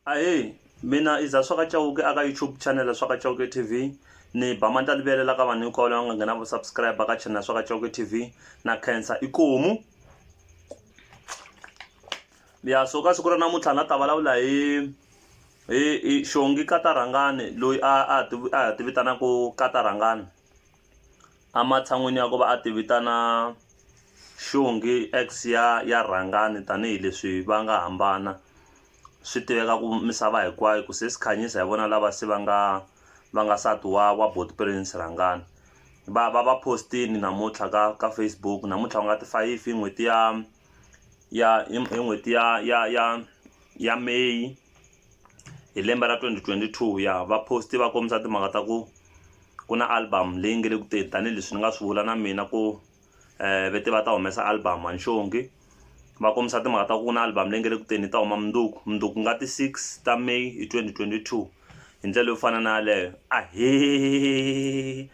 ahee mina i za swa ka chauke a ka youtube channel swa ka chauke tv ni ba manta livele la ka vanhu hinkwavo lava nga nghena va subscribe ka channel swa ka chauke tv na khensa ikomu ya so ka siku ra namuntlha na ta vulavula hi hi xongi katarhangani loyi a a a ti vitanaka katarhangani Ematshan'weni ya ku va a ti vitana xongi ex ya ya rhangani tanihileswi va nga hambana swi tiveka ku misava hinkwayo ku sesi Khanyisa hi vona lava se va nga va nga nsati wa wa buti Prince Rhangani va va va post-ini namuntlha ka ka Facebook namuntlha ku nga ti fayifi hi n'hweti ya. ya hi hi n'hweti ya ya ya ya May hi lembe ra twenty twenty two ya va post va kombisa timhaka ta ku ku na album leyi nge le ku teni tanihileswi ni nga swi vula na mina ku ve te va ta humesa album a ni xongi va kombisa timhaka ta ku na album leyi nge le ku teni yi ta huma mundzuku mundzuku ku nga ti six ta May hi twenty twenty two hi ndlela yo fana na yaleyo ahe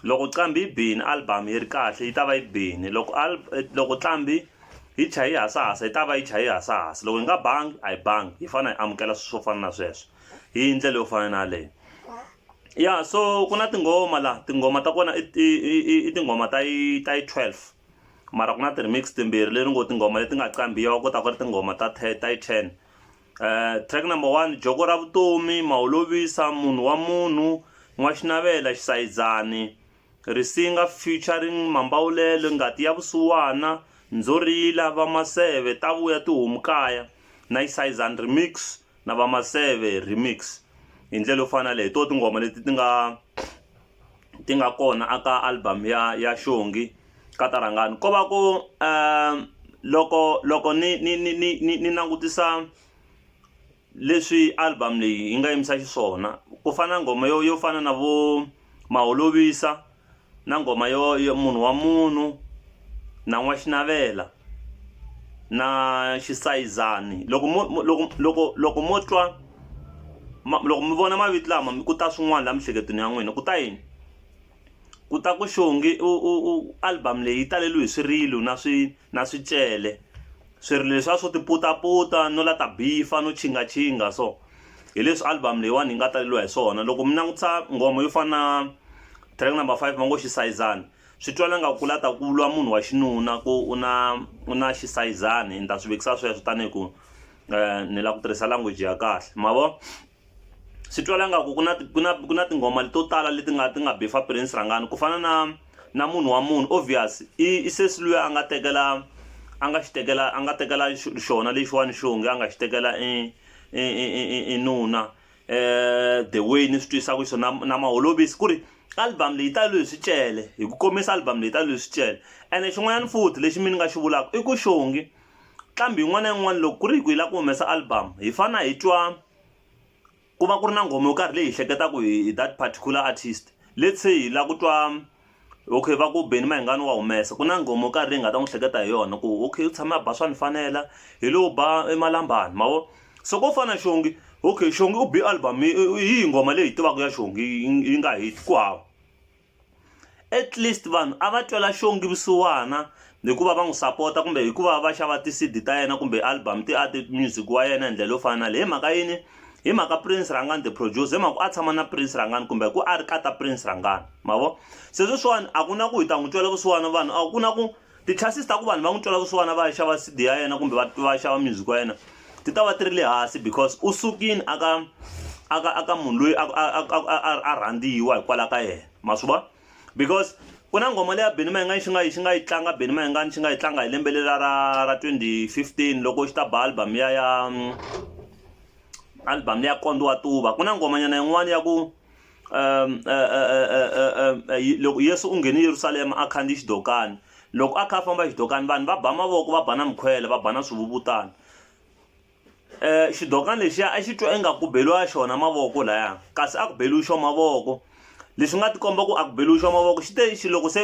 loko qambi yi bini album yi ri kahle yi ta va yi bini loko loko qambi yi chaya yi hasahasa yi ta va yi chaya yi hasahasa loko yi nga bangi a yi bangi hi fanele hi amukela swilo swo fana na sweswo hi ndlela yo fana na yaleyo ya so ku na tinghoma laha tinghoma ta kona i tinghoma ta yi ta yi twelve mara ku na ti-remix timbirhi leri ngo tinghoma leti nga qambiwa kota ku ri tinghoma ta ta yi ten Track number one joko ra vutomi maholovisa munhu wa munhu n'waxinavela xisayizani risinga featuring mambawulelo ngati ya vusiwana ndzorila va maseve ta vuya tihomu kaya na xisayizani remix na va maseve remix hi ndlela yo fana leyi to tingoma leti ti nga ti nga kona a ka album ya ya xongi ka ta rhangani ko va ku loko loko ni ni ni ni ni ni langutisa leswi album leyi yi nga yimisa xiswona ku fana na nghoma yo yo fana na vo ma holovisa na nghoma yo munhu wa munhu na n'wa xinavela. na xisayizani loko mo loko loko loko mo twa loko mi vona mavito lama ku ta swin'wana laha miehleketweni ya n'wina ku ta yini ku ta ku xongi u u u album leyi yi taleriwe hi swirilo na swi na swicele swirilo leswiya swo ti putaputa no la ta bifa no chingachinga so hi leswi album leyiwani yi nga taleriwa hi swona loko mi langutisa nghoma yo fana na track number five va ngo xisayizani. swi twala nga ku la ta ku lwa munhu wa xinuna ku u na u na xisayizani ni ta swi vekisa sweswo tanihi ku eh, ni la ku tirhisa language ya kahle ma vo swi twala nga ku ku na ku na ku na tinghoma leto tala leti nga ti nga bifa prince rangani ku fana na na munhu wa munhu obvious i i sesi luya a nga tekela a nga xi tekela a nga tekela xona lexiwani xonge a nga xi tekela i i i i nuna eh the way ni swi twisaka xona na maholovisi ku ri album leyi ta loyi swicele hi ku komisa album leyi ta loyi swicele ene xin'wanyana futhi lexi mi ni nga xi vulaka i ku xongi qambi yin'wana na yin'wana loko ku ri hi ku yi lava ku humesa album hi fana hi twa ku va ku ri na nghoma yo karhi leyi hi hleketaka hi that particular artist let's say hi lava ku twa Okay va ku Benny Mayengani wa humesa ku na nghoma yo karhi leyi hi nga ta n'wi hleketa hi yona ku okay u tshame a ba swa ni fanela hi lowu ba emalambani ma vo so ko fana xongi okay xongi u bi album hi yihi nghoma leyi hi tivaka ya xongi yi nga hit ku hava at least vanhu a va twela xongi vusiwana hi ku va va n'wi sapota kumbe hi ku va va xava ti-cd ta yena kumbe album ti a ti-music wa yena hi ndlela yo fana na leyi hi mhaka yini hi mhaka prince rangani the producer hi mhaka a tshama na prince rangani kumbe ku a ri kata prince rangani ma vo se sweswiwani a ku na ku hi ta n'wi twela vusiwana vanhu a ku na ku ti-chances ta ku vanhu va n'wi twela vusiwana va ya xava cd ya yena kumbe va va xava music wa yena ti ta va ti ri le hansi because u sukile aka aka aka munhu loyi a rhandziwa hikwalaho ka yena ma swi vona because ku na nghoma leya beni mayingani xi nga yi xi nga yi tlanga beni mayingani xi nga yi tlanga hi lembe lela ra ra 2015 loko xi ta ba album ya ya mm, album leya kondo wa tuva ku na nghomanyana yin'wana ya ku um eh, eh, eh, loko yesu u nghene yerusalema a khandziyi xidokani loko a kha a famba xidokani vanhu va ba mavoko va ba na mikhwele va ba na swivuvutana um xidokani lexiya a xi twa ingaku beliwa xona mavoko laya kasi a ku beliwi xo mavoko leswi nga tikomba ku a ku beliwi xo mavoko xi te xi loko se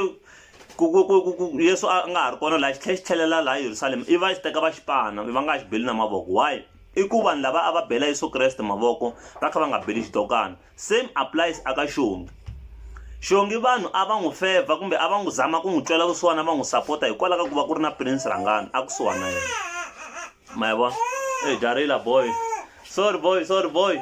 ku ku ku ku ku yesu a nga ha ri kona laha xi tlhela xi tlhelela laha yerusalema i va xi teka va xi pana va nga xi beli na mavoko why i ku vanhu lava a va bela yesu kreste mavoko va kha va nga beli xidokana same applies aka xongi xongi vanhu a va n'wi fevha kumbe a va n'wi zama ku n'wi twela vusiwana va n'wi sapota hikwalaho ka ku va ku ri na prince rhangani a kusuhana yena ma yabo e jarila boy sorry boy sorry boy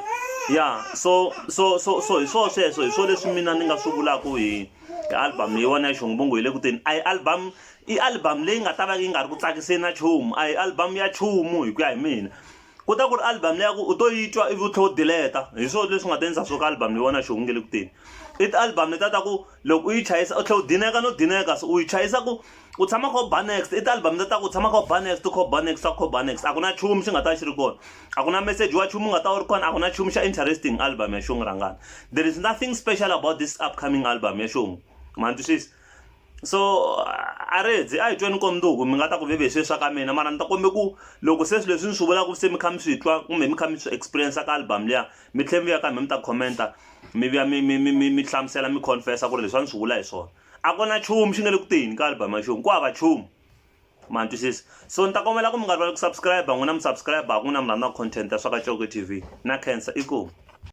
ya so so so so hi swo sweswo hi swo leswi mina ni nga swi vulaka hi album leyi wona ya xongobongo hi le ku teni a hi album i album leyi nga ta va yi nga ri ku tsakiseni na chumu a hi album ya chumu hi ku ya hi mina ku ta ku ri album leya ku u to yi twa ivi u tlhe u dileta hi swo leswi nga ta endlisa swo ka album leyi wona xihungu nge le ku teni i ti-album leta ta ku loko u yi chayisa u tlhe u dineka no dineka so u yi chayisa ku u tshama kha u ba next i ti-album ta ta ku u tshama kha u ba next kha u ba next kha u ba next a ku na nchumu xi nga ta xi ri kona a ku na message wa nchumu u nga ta wu ri kona a ku na nchumu xa interesting album ya xungu rhangana there is nothing special about this upcoming album ya xungu ma ni twisisa so a ri hedzi a hi tweni komnduku mi nga ta ku veve hi sweswa ka mina mara ni ta kombe ku loko se swilo leswi ni swi vulaka se mi kha mi swi twa kumbe mi kha mi swi experience ka album liya mi tlhela mi vuya ka mi mi ta commenta mi vuya mi mi mi mi mi hlamusela mi confessa ku ri leswi a ni swi vula hi swona a ku na nchumu xi nga le ku teni ka album ya xongo ku hava nchumu ma twisisa so ni ta kombela ku mi nga rivali ku subscribe n'wina mi subscribe ku n'wina mi rhandza content ya swa ka coke tv na cancer i ku